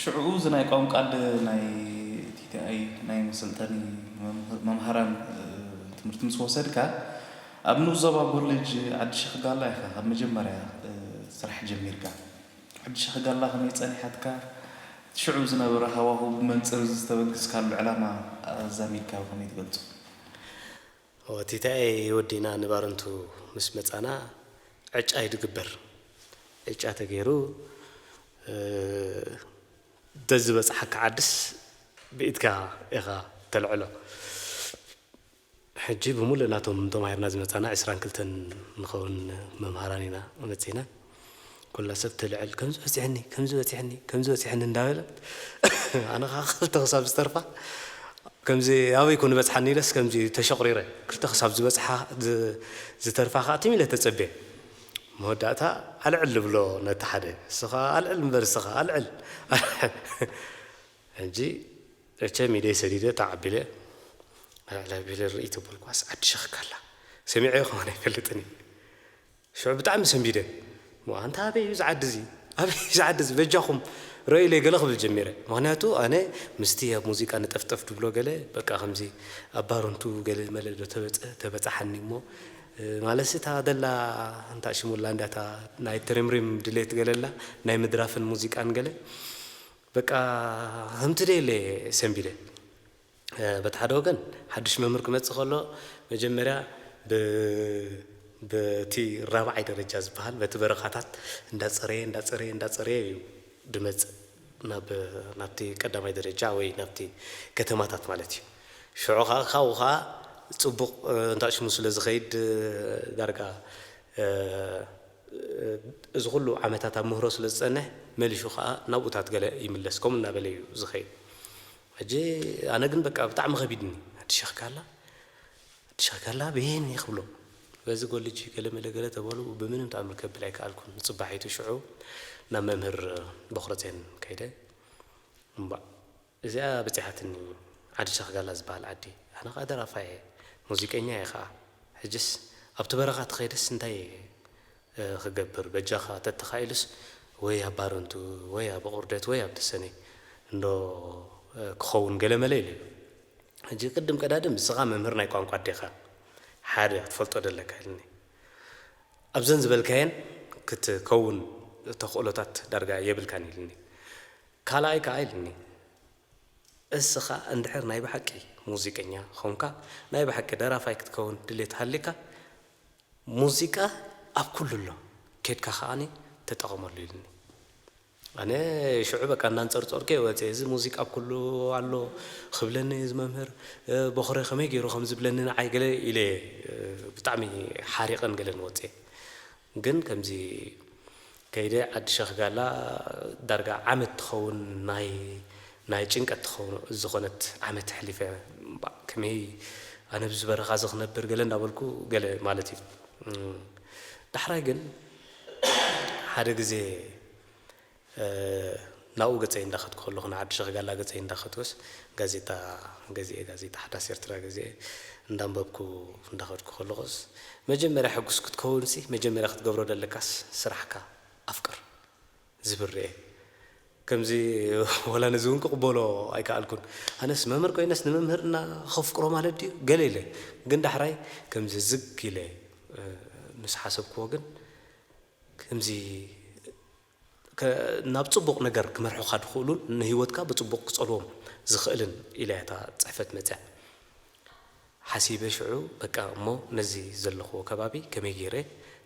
ሽዕኡ እዚ ናይ ቋንቋ ኣደ ናይ TTI ናይ መሰልጠኒ መምሃራን ትምህርቲ ምስ ወሰድካ ኣብ ንኡስ ዞባ ኮሌጅ ዓዲ ሸክጋላ ኢኻ ካብ መጀመርያ ስራሕ ጀሚርካ። ዓዲ ሸክጋላ ከመይ ጸኒሓትካ? እቲ ሽዑ ዝነበረ ሃዋሁ ብመንጽር እዚ ዝተበግስካሉ ዕላማ ኣዛሚድካ ብኸመይ ትገልጾ? ቲታየ ወዲና ንባረንቱ ምስ መጻና ዕጫ እዩ ድግበር ዕጫ ተገይሩ ደዝበጽሓካ ዓድስ ብኢድካ ኢኻ ተልዕሎ ሕጂ ብሙሉእ ናቶም ተማሂርና ዝመጻና ዕስራን ክልተን ንኸውን መምሃራን ኢና መጺና ኩላ ሰብ ትልዕል ከምዚ በጺሕኒ ከምዚ በጺሕኒ ከምዚ በጺሕኒ እንዳበለት ኣነ ከኣ ክልተ ክሳብ ዝተርፋ ከምዚ ኣበይ ኮን በጽሓኒ ኢለስ ከምዚ ተሸቕሪረ ክልተ ክሳብ ዝበጽሓ ዝተርፋ ከኣ ትም ኢለ ተጸቤ መወዳእታ ኣልዕል ዝብሎ ነቲ ሓደ እስኻ ኣልዕል እምበር እስኻ ኣልዕል ሕጂ መቸም ኢደይ ሰዲደ ተዓቢለ ኣልዕል ኣቢለ ርእይ ተበልኳስ ዓዲ ሸኽካላ ሰሚዐ ይኸውን ኣይፈልጥን እዩ ሽዑ ብጣዕሚ ሰንቢደ እሞ ኣንታ ኣበይ እዩ እዚ ዓዲ እዚ ኣበይ እዩ እዚ ዓዲ እዚ በጃኹም ረእዩለይ ገለ ክብል ጀሚረ ምኽንያቱ ኣነ ምስቲ ኣብ ሙዚቃ ንጠፍጠፍ ድብሎ ገለ በቃ ከምዚ ኣብ ባርንቱ ገለ መለ ዶ ተበጸ ተበጻሓኒ እሞ ማለትሲ እታ ደላ ኣንታ ሽሙላ እንዳ እታ ናይ ትሪምሪም ድሌት ገለ ኣላ ናይ ምድራፍን ሙዚቃን ገለ በቃ ከምቲ ደለ ሰንቢደ በቲ ሓደ ወገን ሓዱሽ መምህር ክመጽእ ከሎ መጀመርያ ብ በቲ ራብዓይ ደረጃ ዝበሃል በቲ በረኻታት እንዳጸረየ እንዳጸረየ እንዳጸረየ እዩ ድመጽእ ናብ ናብቲ ቀዳማይ ደረጃ ወይ ናብቲ ከተማታት ማለት እዩ። ሽዑ ከኣ ካብኡ ከኣ ጽቡቕ እንዳሽሙ ስለ ዝኸይድ ዳርጋ እዚ ኩሉ ዓመታት ኣብ ምህሮ ስለ ዝጸንሕ መሊሹ ከኣ ናብኡታት ገለ ይምለስ ከምኡ እናበለ እዩ ዝኸይድ። ሕጂ ኣነ ግን በቃ ብጣዕሚ ከቢድኒ ኣዲ ሸኽ ጋላ ኣዲ ሸኽ ጋላ በየን እየ ክብሎ በዚ ጎልጅ ገለመለ ገለ ተበሉ ብምንም ተኣምር ከብል ኣይከኣልኩን ንጽባሒቱ ሽዑ ናብ መምህር ቦኽረጼን ከይደ እምባእ እዚኣ በጺሓትኒ ዓዲ ሸኽ ጋላ ዝበሃል ዓዲ ኣነ ከኣ ደራፋይ እየ ሙዚቀኛ እየ ከኣ ሕጅስ ኣብቲ በረኻ ተኸይደስ እንታይ እየ ክገብር በጃኻ ተተኻኢሉስ ወይ ኣብ ባረንቱ ወይ ኣብ ኣቑርደት ወይ ኣብ ተሰነይ እንዶ ክኸውን ገለመለ ኢለዮ ሕጂ ቅድም ቀዳድም ንስኻ መምህር ናይ ቋንቋ ኣዴኻ ሓደ ክትፈልጦ ደለካ ኢልኒ ኣብዘን ዝበልካየን ክትከውን ተኽእሎታት ዳርጋ የብልካን ኢልኒ ካልኣይ ከኣ ኢልኒ እስኻ እንድሕር ናይ ብሓቂ ሙዚቀኛ ኾንካ ናይ ብሓቂ ደራፋይ ክትከውን ድሌት ሃልይካ ሙዚቃ ኣብ ኩሉ ኣሎ ኬድካ ከኣ ተጠቐመሉ ኢሉኒ። ኣነ ሽዑ በቃ እናንጸርጸርኩ'የ ወጺኤ። እዚ ሙዚቃ ኣብ ኩሉ ኣሎ ክብለኒ እዚ መምህር ቦኽረ ከመይ ጌሩ ከም ዝብለኒ ንዓይ ገለ ኢለ'የ ብጣዕሚ ሓሪቐን ገለን ወጺኤ። ግን ከምዚ ከይደ ዓዲ ሸኽ ጋላ ዳርጋ ዓመት ትኸውን ናይ ናይ ጭንቀት ትኸውን ዝኾነት ዓመት ኣሕሊፈ ባእ ከመይ ኣነ ብዚ በረኻ እዚ ክነብር ገለ እንዳበልኩ ገለ ማለት እዩ ዳሕራይ ግን ሓደ ግዜ ናብኡ ገጸይ እንዳኸድኩ ከለኹ፣ ንዓዲ ሸኽ ጋላ ገጸይ እንዳኸድኩስ፣ ጋዜጣ ገዚኤ፣ ጋዜጣ ሓዳስ ኤርትራ ገዚኤ እንዳንበብኩ እንዳኸድኩ ከለኹስ፣ መጀመርያ ሕጉስ ክትከውንሲ መጀመርያ ክትገብሮ ዘለካስ ስራሕካ ኣፍቅር ዝብል ርእየ። ከምዚ ወላ ነዚ እውን ክቕበሎ ኣይከኣልኩን። ኣነስ መምህር ኮይነስ ንመምህርና ከፍቅሮ ማለት ድዩ? ገለ ኢለ። ግን ዳሕራይ ከምዚ ዝግ ኢለ ምስ ሓሰብኩዎ ግን፣ ከምዚ፣ ናብ ጽቡቕ ነገር ክመርሑኻ ዝኽእሉን ንህይወትካ ብጽቡቕ ክጸልዎም ዝኽእልን ኢላ እያ እታ ጽሕፈት መጺኣ። ሓሲበ ሽዑ በቃ እሞ ነዚ ዘለኽዎ ከባቢ ከመይ ገይረ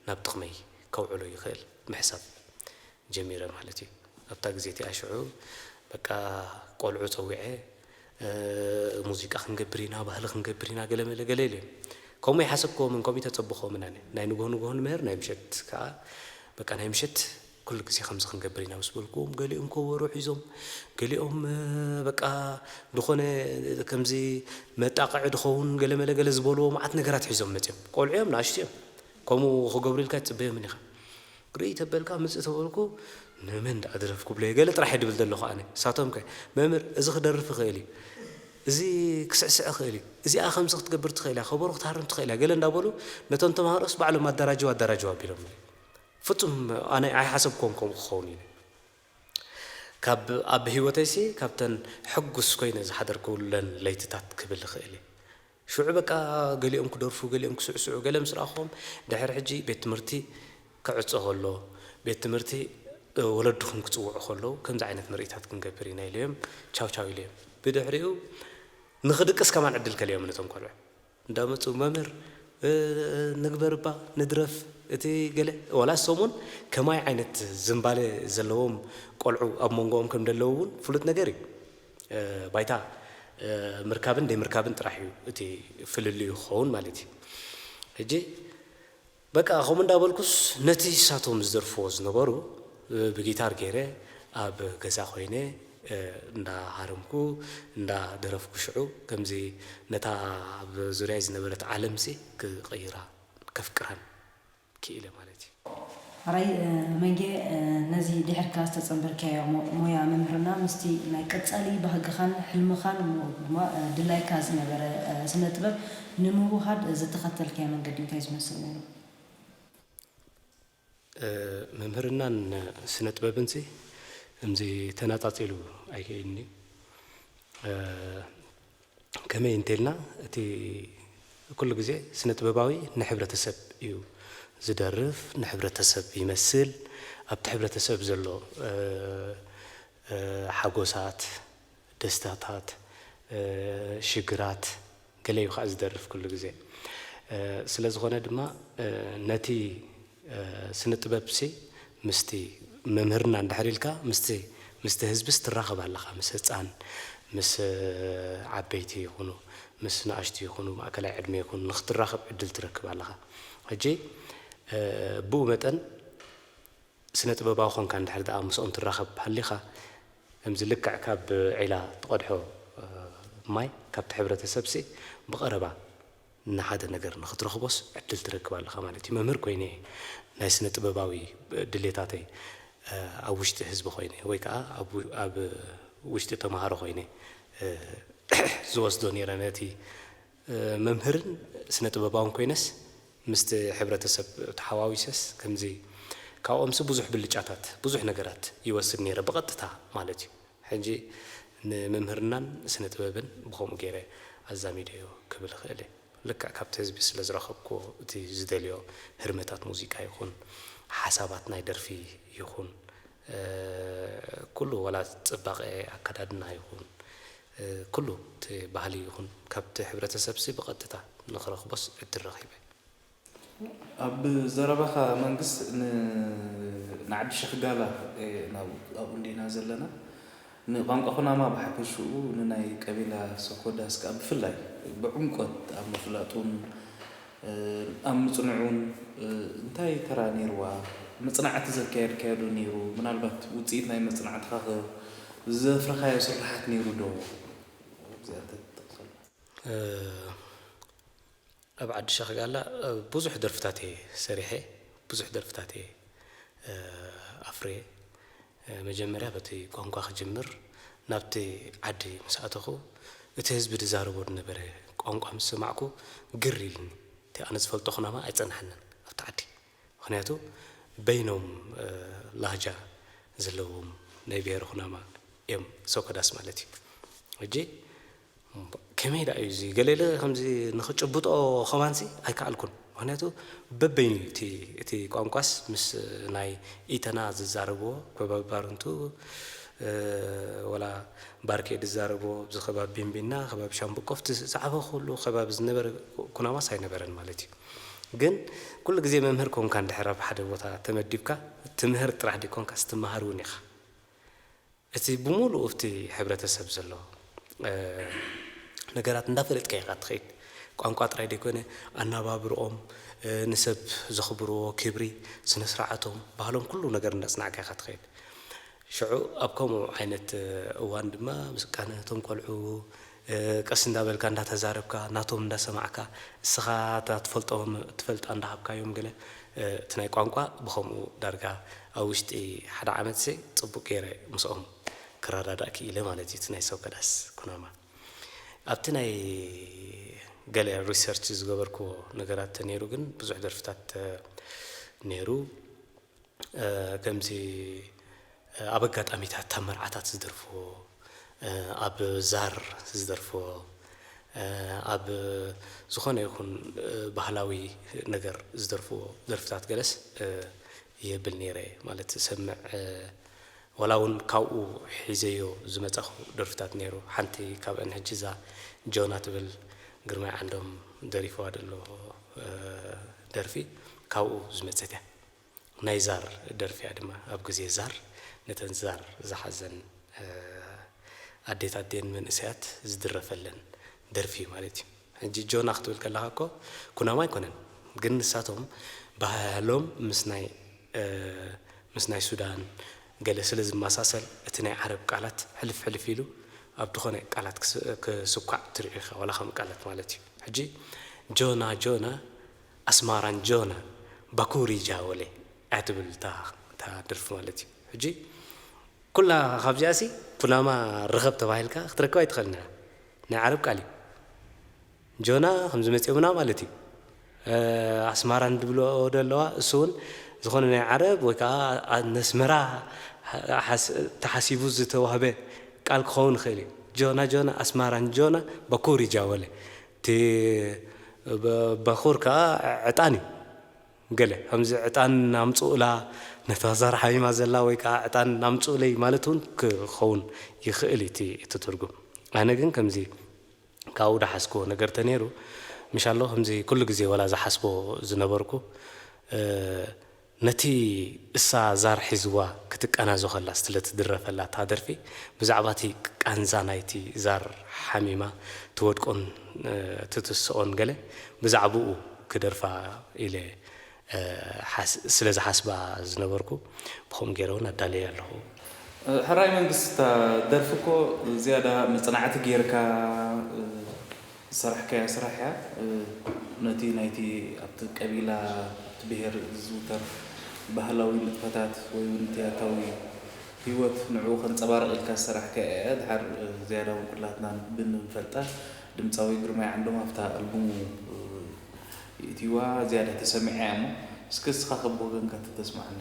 ናብ ጥቕመይ ከውዕሎ ይኽእል ምሕሳብ ጀሚረ ማለት እዩ። ኣብታ ግዜ እቲኣ ሽዑ በቃ ቆልዑ ጸዊዐ፣ ሙዚቃ ክንገብር ኢና፣ ባህሊ ክንገብር ኢና ገለ መለ ገለ ኢሎም እዮም። ከምኡ ኣይሓሰብኩዎምን ከምኡ ኣይተጸበኹዎምን ኣነ። ናይ ንግሆ ንግሆ ንምህር ናይ ምሸት ከኣ በቃ ናይ ምሸት ኩሉ ግዜ ከምዚ ክንገብር ኢና ምስ በልኩዎም ገሊኦም ኮቦሮ ሒዞም ገሊኦም በቃ ዝኾነ ከምዚ መጣቕዒ ድኸውን ገለ መለ ገለ ዝበልዎ መዓት ነገራት ሒዞም መጺኦም። ቆልዑ እዮም ንኣሽቱ እዮም። ከምኡ ክገብሩ ኢልካ ኣይትጽበዮምን ኢኻ። ርእይ ተበልካ ምጽእ ተበልኩ ንመን ደኣ ድረፍ ክብሎ'የ ገለ ጥራሕ እየ ድብል ዘለኹ ኣነ ንሳቶምከ መምህር እዚ ክደርፍ ይኽእል እዩ እዚ ክስዕስዕ ይኽእል እዩ እዚኣ ከምዚ ክትገብር ትኽእል እያ ከበሮ ክትሃርም ትኽእል እያ ገለ እንዳበሉ ነቶም ተማሃሮስ ባዕሎም ኣዳራጅው ኣዳራጅው ኣቢሎምኒ ፍጹም ኣነ ኣይሓሰብክዎን ከምኡ ክኸውን ኢለ ካብ ኣብ ሂወተይሲ ካብተን ሕጉስ ኮይነ ዝሓደርኩለን ለይትታት ክብል እኽእል እየ ሽዑ በቃ ገሊኦም ክደርፉ ገሊኦም ክስዕስዑ ገለ ምስ ረኣኹዎም ድሕሪ ሕጂ ቤት ትምህርቲ ክዕጾ ከሎ ቤት ትምህርቲ ወለድኹም ክጽውዑ ከለዉ ከምዚ ዓይነት ምርኢታት ክንገብር ኢና ኢለዮም ቻው ቻው ኢለዮም ብድሕሪኡ ንኽድቅስ ከማን ዕድል ከልዮም ነቶም ቆልዑ እንዳመጹ መምህር ንግበር እባ ንድረፍ እቲ ገለ ዋላ ሰሙን ከማይ ዓይነት ዝምባሌ ዘለዎም ቆልዑ ኣብ መንጎኦም ከም ደለዉ እውን ፍሉጥ ነገር እዩ። ባይታ ምርካብን ደይምርካብን ጥራሕ እዩ እቲ ፍልልዩ ክኸውን ማለት እዩ። ሕጂ በቃ ከምኡ እንዳበልኩስ ነቲ ንሳቶም ዝደርፍዎ ዝነበሩ ብጊታር ገይረ ኣብ ገዛ ኮይነ እንዳ ሃረምኩ እንዳ ደረፍኩ ሽዑ ከምዚ ነታ ኣብ ዙርያይ ዝነበረት ዓለምሲ ክቕይራ ከፍቅራን ክኢለ ማለት እዩ። ሐራይ መንጌ ነዚ ድሒርካ ዝተጸንበርካዮ ሞያ ምምህርና ምስቲ ናይ ቀጻሊ ባህግኻን ሕልምኻን እሞ ድማ ድላይካ ዝነበረ ስነ ጥበብ ንምውሃድ ዝተኸተልካዮ መንገዲ እንታይ ዝመስል ነይሩ? ምምህርናን ስነ ጥበብንሲ እምዚ ተናጻጺሉ ኣይክኢልንዩ። ከመይ እንተልና እቲ ኩሉ ግዜ ስነጥበባዊ ንሕብረተሰብ እዩ ዝደርፍ ንሕብረተሰብ ይመስል ኣብቲ ሕብረተሰብ ዘሎ ሓጎሳት ደስታታት ሽግራት ገለ እዩ ከኣ ዝደርፍ ኩሉ ግዜ ስለዝኾነ ድማ ነቲ ስነ ጥበብሲ ምስቲ መምህርና እንድሕር ኢልካ ምስቲ ምስቲ ህዝብስ ትራኸብ ኣለኻ ምስ ህጻን ምስ ዓበይቲ ይኹኑ ምስ ንኣሽቱ ይኹኑ ማእከላይ ዕድመ ይኹኑ ንኽትራኸብ ዕድል ትረክብ ኣለኻ ሕጂ ብኡ መጠን ስነ ጥበባዊ ኮንካ እንድሕር ደኣ ምስኦም ትራኸብ ሃሊኻ ከምዚ ልክዕ ካብ ዒላ ትቐድሖ ማይ ካብቲ ሕብረተሰብሲ ብቐረባ ንሓደ ነገር ንኽትረኽቦስ ዕድል ትረክብ ኣለኻ ማለት እዩ። መምህር ኮይነ እየ ናይ ስነ ጥበባዊ ድሌታተይ ኣብ ውሽጢ ህዝቢ ኮይነ ወይ ከኣ ኣብ ውሽጢ ተማሃሮ ኮይነ ዝወስዶ ነይረ ነቲ መምህርን ስነ ጥበባውን ኮይነስ ምስቲ ሕብረተሰብ ተሓዋዊሰስ ከምዚ ካብኦምሲ ብዙሕ ብልጫታት ብዙሕ ነገራት ይወስድ ነይረ ብቐጥታ ማለት እዩ። ሕጂ ንምምህርናን ስነ ጥበብን ብኸምኡ ገይረ ኣዛሚደዮ ክብል እኽእል እየ። ልክዕ ካብቲ ህዝቢ ስለ ዝረኸብኩዎ እቲ ዝደልዮ ህርመታት ሙዚቃ ይኹን ሓሳባት ናይ ደርፊ ይኹን ኩሉ ዋላ ጽባቐ ኣከዳድና ይኹን ኩሉ እቲ ባህሊ ይኹን ካብቲ ሕብረተሰብሲ ብቐጥታ ንኽረኽቦስ ዕድል ረኺበ። ኣብ ዘረባኻ መንግስት ንዓዲ ሸኽ ጋላ ኣብኡ እንዲና ዘለና ንቋንቋ ኩናማ ብሓፈሽኡ ንናይ ቀቢላ ሰኮዳስ ከኣ ብፍላይ ብዕምቆት ኣብ ምፍላጡን ኣብ ምጽንዑን እንታይ ተራ ኔርዋ መጽናዕቲ ዘካየድካዮ ዶ ኔሩ ምናልባት ውጽኢት ናይ መጽናዕትኻ ከ ዘፍረኻዮ ስርሓት ኔሩ ዶ ኣብዚኣ እንተ ትጠቅሰልና። ኣብ ዓዲ ሸኽ ጋላ ብዙሕ ደርፍታት እየ ሰሪሐ ብዙሕ ደርፍታት እየ ኣፍርየ መጀመርያ በቲ ቋንቋ ክጅምር ናብቲ ዓዲ ምስ ኣተኹ እቲ ህዝቢ ድዛረቦ ድነበረ ቋንቋ ምስ ሰማዕኩ ግር ኢልኒ እቲ ኣነ ዝፈልጦ ኩናማ ኣይጸናሓንን ኣብቲ ዓዲ ምኽንያቱ በይኖም ላህጃ ዘለዎም ናይ ብሄረ ኩናማ እዮም ሰኮዳስ ማለት እዩ ሕጂ ከመይ ደኣ እዩ እዚ ገለለ ከምዚ ንኽጭብጦ ኸማንሲ ኣይከኣልኩን ምኽንያቱ በበይኑ እቲ እቲ ቋንቋስ ምስ ናይ ኢተና ዝዛረብዎ ከባቢ ባርንቱ ወላ ባርኬ ዝዛረብዎ ኣብዚ ከባቢ ቢንቢና ከባቢ ሻምብቆፍቲ ዝጸሓፈ ኩሉ ከባቢ ዝነበረ ኩናማስ ኣይነበረን ማለት እዩ ግን ኩሉ ግዜ መምህር ኮንካ እንድሕር ኣብ ሓደ ቦታ ተመዲብካ ትምህር ጥራሕ ደይኮንካስ ትመሃር እውን ኢኻ እቲ ብሙሉኡ ኣብቲ ሕብረተሰብ ዘሎ ነገራት እንዳፈለጥካ ኢኻ ትኸይድ። ቋንቋ ጥራይ ዘይኮነ ኣናባብርኦም፣ ንሰብ ዘኽብርዎ ክብሪ፣ ስነስርዓቶም፣ ባህሎም ኩሉ ነገር እንዳጽናዕካ ኢኻ ትኸይድ። ሽዑ ኣብ ከምኡ ዓይነት እዋን ድማ ምስቃነ እቶም ቆልዑ፣ ቀስ እንዳበልካ እንዳተዛረብካ ናቶም እንዳሰማዕካ እስኻ እታ ትፈልጦ ትፈልጣ እንዳሃብካዮም ገለ እቲ ናይ ቋንቋ ብኸምኡ ዳርጋ ኣብ ውሽጢ ሓደ ዓመትሲ ጽቡቅ ጌረ ምስኦም ክረዳዳእ ክኢለ ማለት እዩ እቲ ናይ ሰብ ከዳስ ኩናማ ኣብቲ ናይ ገለ ሪሰርች ዝገበርክዎ ነገራት ተኔሩ ግን ብዙሕ ደርፍታት ኔሩ ከምዚ ኣብ ኣጋጣሚታት እታ መርዓታት ዝደርፍዎ፣ ኣብ ዛር ዝደርፍዎ፣ ኣብ ዝኾነ ይኹን ባህላዊ ነገር ዝደርፍዎ ደርፍታት ገለስ ይብል ነይረ እየ። ማለት እሰምዕ ዋላ እውን ካብኡ ሒዘዮ ዝመፃኹ ደርፍታት ነይሩ። ሓንቲ ካብአን ሕጂ እዛ ጆና ትብል ግርማይ ዓንዶም ደሪፍዋ ዘሎ ደርፊ ካብኡ ዝመፀት እያ። ናይ ዛር ደርፊ እያ ድማ ኣብ ግዜ ዛር ነተን ዛር ዝሓዘን ኣዴታት ድየን መንእሰያት ዝድረፈለን ደርፊ እዩ ማለት እዩ ሕጂ ጆና ክትብል ከለኻ እኮ ኩናማ ኣይኮነን ግን ንሳቶም ባህህሎም ምስ ናይ ምስ ናይ ሱዳን ገለ ስለ ዝመሳሰል እቲ ናይ ዓረብ ቃላት ሕልፍ ሕልፍ ኢሉ ኣብ ድኾነ ቃላት ክስኳዕ ትሪኦ ኢኻ ዋላ ከም ቃላት ማለት እዩ ሕጂ ጆና ጆና ኣስማራን ጆናን ባኩሪ ጃወለ እያ ትብል እታ እታ ደርፊ ማለት እዩ ሕጂ ኩላ ካብዚኣሲ ኩናማ ርኸብ ተባሂልካ ክትረክብ ኣይትኽእልን ኢኻ ናይ ዓረብ ቃል እዩ ጆና ከምዚ መጽዮምና ማለት እዩ ኣስማራን ድብልኦ ደለዋ እሱ እውን ዝኾነ ናይ ዓረብ ወይ ከዓ ነስመራ ተሓሲቡ ዝተዋህበ ቃል ክኸውን ይኽእል እዩ ጆና ጆና ኣስማራን ጆና ባኩሪ ጃወለ እቲ በዅር ከኣ ዕጣን እዩ። ገለ ከምዚ ዕጣን ኣምጽኡላ ነታ ዛር ሓሚማ ዘላ ወይ ከኣ ዕጣን ኣምጽኡለይ ማለት እውን ክኸውን ይኽእል እዩ እቲ ትርጉም። ኣነ ግን ከምዚ ካብኡ ዝሓዝክዎ ነገር እንተነይሩ ምሻሎ ከምዚ ኩሉ ግዜ ዋላ ዝሓስቦ ዝነበርኩ ነቲ እሳ ዛር ሒዝዋ ክትቃናዞ ከላ ስለ ትድረፈላ እታ ደርፊ ብዛዕባ እቲ ቃንዛ ናይቲ ዛር ሓሚማ ትወድቆን ትትስኦን ገለ ብዛዕብኡ ክደርፋ ኢለ ስለ ዝሓስባ ዝነበርኩ ብከምኡ ጌረ ውን ኣዳልየ ኣለኹ። ሕራይ መንግስቲ እታ ደርፊ እኮ ዝያዳ መጽናዕቲ ጌርካ፣ ዝሰራሕካያ ስራሕ እያ ነቲ ናይቲ ኣብቲ ቀቢላ ኣብቲ ብሄር ዝዝውተር ባህላዊ ንጥፈታት ወይ ውን እቲ ያታዊ ሂወት ንዕኡ ከንጸባርቕ ኢልካ ዝሰራሕካያ እያ ድሓር ዝያዳ ውን ኩላትና ብንፈልጣ ድምጻዊ ግርማይ ዓንዶም ኣብታ ኣልቡሙ የእትይዋ ዝያዳ ተሰሚዓ እያ እሞ እስከ እስኻ ከ ብወገንካ ተተስማዓና።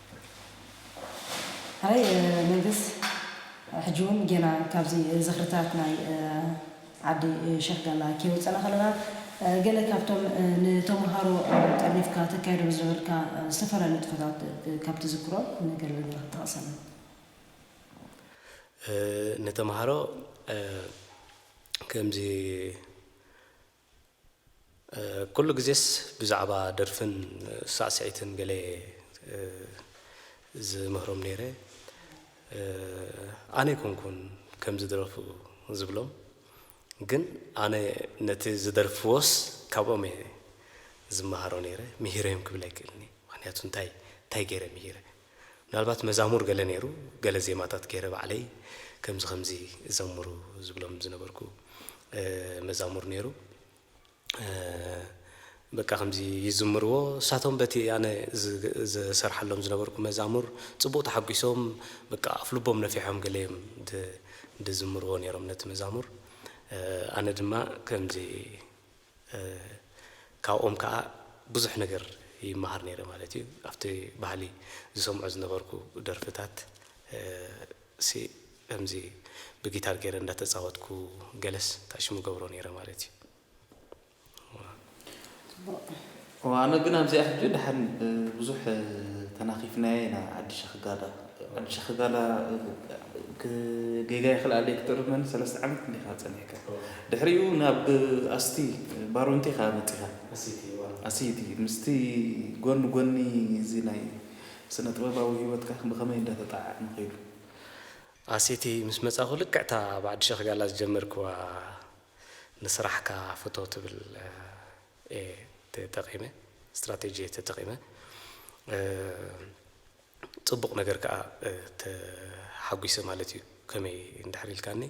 ኣይ መንግስ ሕጂ ውን ጌና ካብዚ ዝኽርታት ናይ ዓዲ ሸኽ ጋላ ከይወጸና ከለና ገለ ካብቶም ንተመሃሮ ጠርኒፍካ ተካይዶም ዝነበርካ ዝተፈላለዩ ንጥፈታት ካብ ትዝክሮ ንገለ ነገራት ጥቐሰልና። ንተመሃሮ ከምዚ። ኩሉ ግዜስ ብዛዕባ ደርፍን ሳዕስዒትን ገለየ ዝምህሮም ነይረ። ኣነ ኣይኮንኩን ከም ዝደረፉ ዝብሎም ግን ኣነ ነቲ ዝደርፍዎስ ካብኦም እየ ዝመሃሮ ነይረ፣ ምሂረዮም ክብል ኣይክእልን እየ። ምኽንያቱ እንታይ እንታይ ገይረ ምሂረ? ምናልባት መዛሙር ገለ ነይሩ ገለ ዜማታት ገይረ ባዕለይ ከምዚ ከምዚ ዘምሩ ዝብሎም ዝነበርኩ መዛሙር ነይሩ በቃ ከምዚ ይዝምርዎ እሳቶም በቲ ኣነ ዝሰርሓሎም ዝነበርኩ መዛሙር ጽቡቕ ተሓጒሶም በቃ ኣፍ ልቦም ነፊሖም ገለ እዮም ድዝምርዎ ነይሮም ነቲ መዛሙር ኣነ ድማ ከምዚ ካብኦም ከኣ ብዙሕ ነገር ይመሃር ነይረ ማለት እዩ ኣብቲ ባህሊ ዝሰምዖ ዝነበርኩ ደርፍታት ሲ ከምዚ ብጊታር ገይረ እንዳተጻወትኩ ገለስ ታሽሙ ገብሮ ነይረ ማለት እዩ። ኣነ ግን ኣብዚኣ ሕጂ ደሓን ብዙሕ ተናኺፍናያ ኢና ዓዲ ሸኽጋላ ዓዲ ሸኽጋላ ጌጋ ይኽልኣለይ ክትእርመኒ ሰለስተ ዓመት ክንደይ ኢኻ ጸኒሕካ ድሕሪኡ ናብ ኣስቲ ባሮንቲ ኢኻ መጺኻ ኣሲቲ ምስቲ ጎኒ ጎኒ እዚ ናይ ስነ ጥበባዊ ህይወትካ ብኸመይ እንዳተጣዓዕመ ኸይዱ ኣሲቲ ምስ መጻኹ ልክዕ እታ ኣብ ዓዲ ሸኽጋላ ዝጀመርክዋ ንስራሕካ ፍቶ ትብል እየ ተጠቂመ ስትራቴጂ እየ ተጠቂመ ፅቡቅ ነገር ከዓ ተሓጒሰ ማለት እዩ ከመይ እንድሕር ኢልካኒ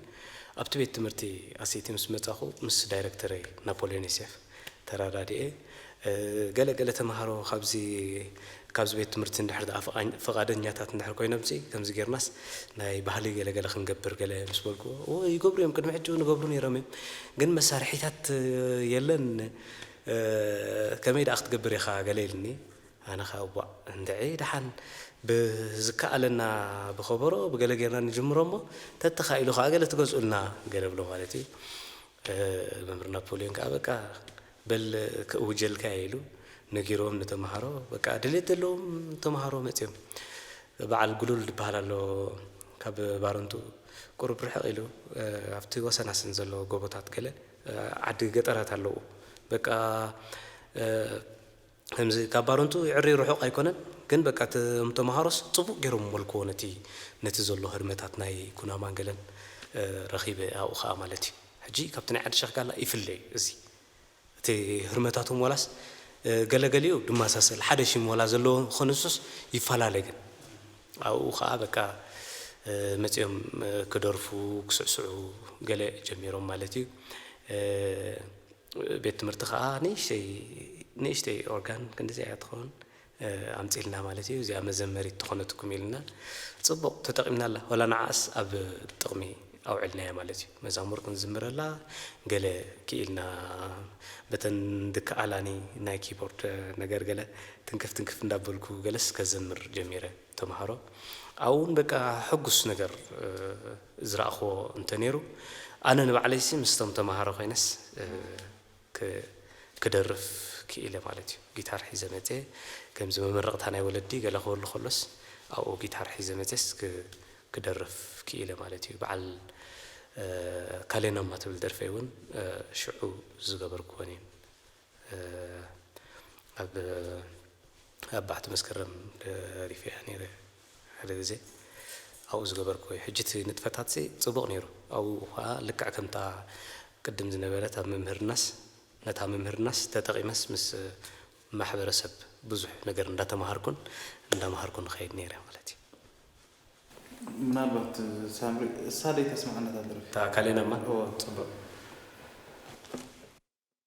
ኣብቲ ቤት ትምህርቲ ኣሴቲ ምስ መፃኹ ምስ ዳይረክተረይ ናፖልዮን ዮሴፍ ተረዳዲኤ ገለ ገለ ተምሃሮ ካብዚ ካብዚ ቤት ትምህርቲ እንድሕር ደኣ ፍቓኝ ፍቓደኛታት እንድሕር ኮይኖምሲ ከምዚ ጌርናስ ናይ ባህሊ ገለ ገለ ክንገብር ገለ ምስ በልኩዎ እወ ይገብሩ እዮም ቅድሚ ሕጂ እውን ይገብሩ ነይሮም እዮም ግን መሳርሒታት የለን ከመይ ደኣ ክትገብር ኢኻ ገለ ኢሉኒ ኣነ ከኣ እዋእ እንድዒ ደሓን ብዝከኣለና ብኸበሮ ብገለ ጌርና ንጅምሮ እሞ ተተኻኢሉ ከኣ ገለ ትገዝኡልና ገለ እብሎ ማለት እዩ መምህር ናፖልዮን ከኣ በቃ በል ክእውጀልካ እየ ኢሉ ነጊርዎም ንተምሃሮ በቃ ድልየት ዘለዎም ተምሃሮ መፅዮም በዓል ጉሉል ድበሃል ኣሎ ካብ ባረንቱ ቁሩብ ርሕቅ ኢሉ ኣብቲ ወሰናስን ዘሎ ጎቦታት ገለ ዓዲ ገጠራት ኣለዉ በቃ ከምዚ ካብ ባረንትኡ ይዕሪ ርሑቕ ኣይኮነን ግን በቃ እቶም ተማሃሮስ ጽቡቕ ጌሮም መልክዎ ነቲ ነቲ ዘሎ ህርመታት ናይ ኩናማን ገለን ረኺበ ኣብኡ ከኣ ማለት እዩ ሕጂ ካብቲ ናይ ዓዲ ሸኽ ጋላ ይፍለ እዩ እዚ እቲ ህርመታቶም ዋላስ ገለ ገሊኡ ድማሳሰል ሓደ ሽም ዋላ ዘለዎ ኸንሱስ ይፈላለ ግን ኣብኡ ከኣ በቃ መጺኦም ክደርፉ ክስዕስዑ ገለ ጀሚሮም ማለት እዩ። ቤት ትምህርቲ ከኣ ንእሽተይ ንእሽተይ ኦርጋን ክንዲዚኣ እያ ትኸውን ኣምጺልና ማለት እዩ እዚኣ መዘመሪት ትኾነትኩም ኢልና ጽቡቕ ተጠቒምናላ ወላ ንዓኣስ ኣብ ጥቕሚ ኣውዕልናያ ማለት እዩ መዛሙር ክንዝምረላ ገለ ክኢልና በተን ድከኣላኒ ናይ ኪቦርድ ነገር ገለ ትንክፍ ትንክፍ እንዳበልኩ ገለስ ከዘምር ጀሚረ ተማሃሮ ኣብኡ ውን በቃ ሕጉስ ነገር ዝረኣኽዎ እንተነይሩ ኣነ ንባዕለይሲ ምስቶም ተማሃሮ ኮይነስ ክደርፍ ክኢለ ማለት እዩ ጊታር ሒዘ መጼ ከምዚ መመረቕታ ናይ ወለዲ ገለ ክህሉ ከሎስ ኣብኡ ጊታር ሒዘ መጼስ ክደርፍ ክኢለ ማለት እዩ በዓል ካሌኖማ ትብል ደርፈይ ውን ሽዑ ዝገበርክወን እየን። ኣብ ኣብ ባሕቲ መስከረም ደሪፈ እያ ነይረ ሓደ ግዜ ኣብኡ ዝገበርክዎ እዩ ሕጂ እቲ ንጥፈታትሲ ጽቡቕ ነይሩ ኣብኡ ኸኣ ልክዕ ከምታ ቅድም ዝነበረት ኣብ ምምህርናስ ነታ ምምህርናስ ተጠቒመስ ምስ ማሕበረሰብ ብዙሕ ነገር እንዳተማሃርኩን እንዳማሃርኩን እኸይድ ነይረ ማለት እዩ። ምናልባት ሳምሪ እሳ ደይተስምዓ ነታ ደርፊ? እታ ካሌናማ? እወ። ጽቡቕ።